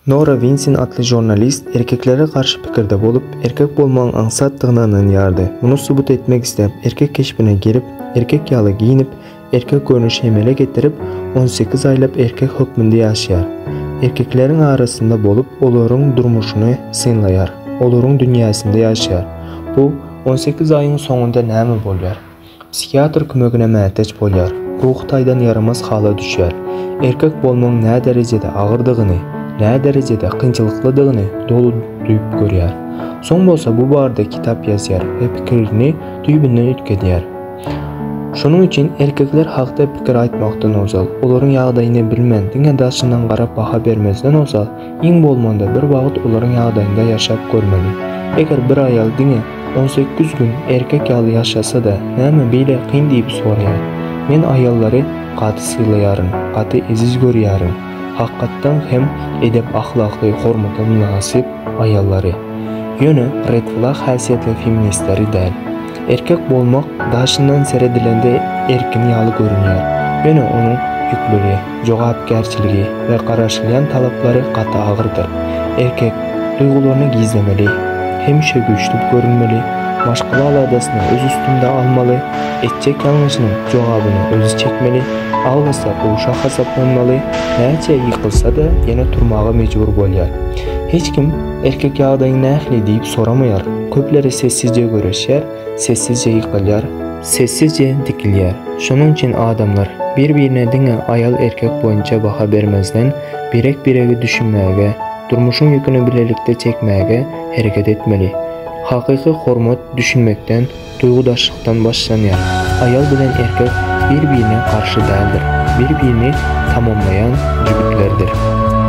Nora Winsin atly žurnalist erkeklere garşy pikirde bolup, erkek bolmagyň aňsatdygyna ynanýardy. Muny subut etmek isläp, erkek keşbine girip, erkek ýaly geýnip, erkek görnüşi emele getirip, on sekiz aýlap erkek hökmünde ýaşaýar. Erkekleriň arasynda bolup, olaryň durmuşyny synlaýar, olaryň dünýäsinde ýaşaýar. Bu on sekiz aýyň soňunda näme bolýar? Psihiatr kömegine mätäç bolýar, ruhy taýdan ýaramaz hala düşýär. Erkek bolmagyň näderejede agyrdygyny, näderejede kynçylyklydygyny doly duýup görýär. Soň bolsa bu barada kitap ýazýar we pikirini düýbünden üýtgedýär. Şonuň üçin erkekler hakda pikir aýtmakdan ozal, olaryň ýagdaýyny bilmän, diňe daşyndan garap baha bermezden ozal, Iň bolmanda bir wagt olaryň ýagdaýynda ýaşap görmeli. Eger bir aýal diňe on sekiz gün erkek ýaly ýaşasa-da näme beýle kyn diýip soraýar. Men aýallary gaty sylaýaryn, gaty eziz görýärin. Hakykatdan hem edep-ahlakly, hormata mynasyp aýallary. Ýöne red flag häsiýetli feministleri däl. Erkek bolmak daşyndan seredilende erkin ýaly görünýär, ýöne onuň ýükleri. jogapkärçiligi we garaşylýan talaplary gaty agyrdyr. Erkek duýgularyny gizlemeli, hemişe güýçli görünmeli, maşgala aladasyny öz üstünde almaly, etjek ýalňyşynyň jogabyny özi çekmeli, aglasa gowşak hasaplanmaly, näçe ýykylsa-da ýene turmaga mejbur bolýar. Hiç kim erkek ýagdaýyň nähili diýip soramaýar, köpleri sessizje göreşýär, Sessizje ýykylýar. Sessizje dikilýär. Şonuň üçin adamlar bir-birine diňe aýal-erkek boýunça baha bermezden, birek-biregi düşünmäge, durmuşyň ýüküni bilelikde çekmäge hereket etmeli. Hakyky hormat düşünmekden, duýgudaşlykdan başlanýar. Aýal bilen erkek bir-birine garşy däldir. Bir-birini tamamlaýan jübütlerdir.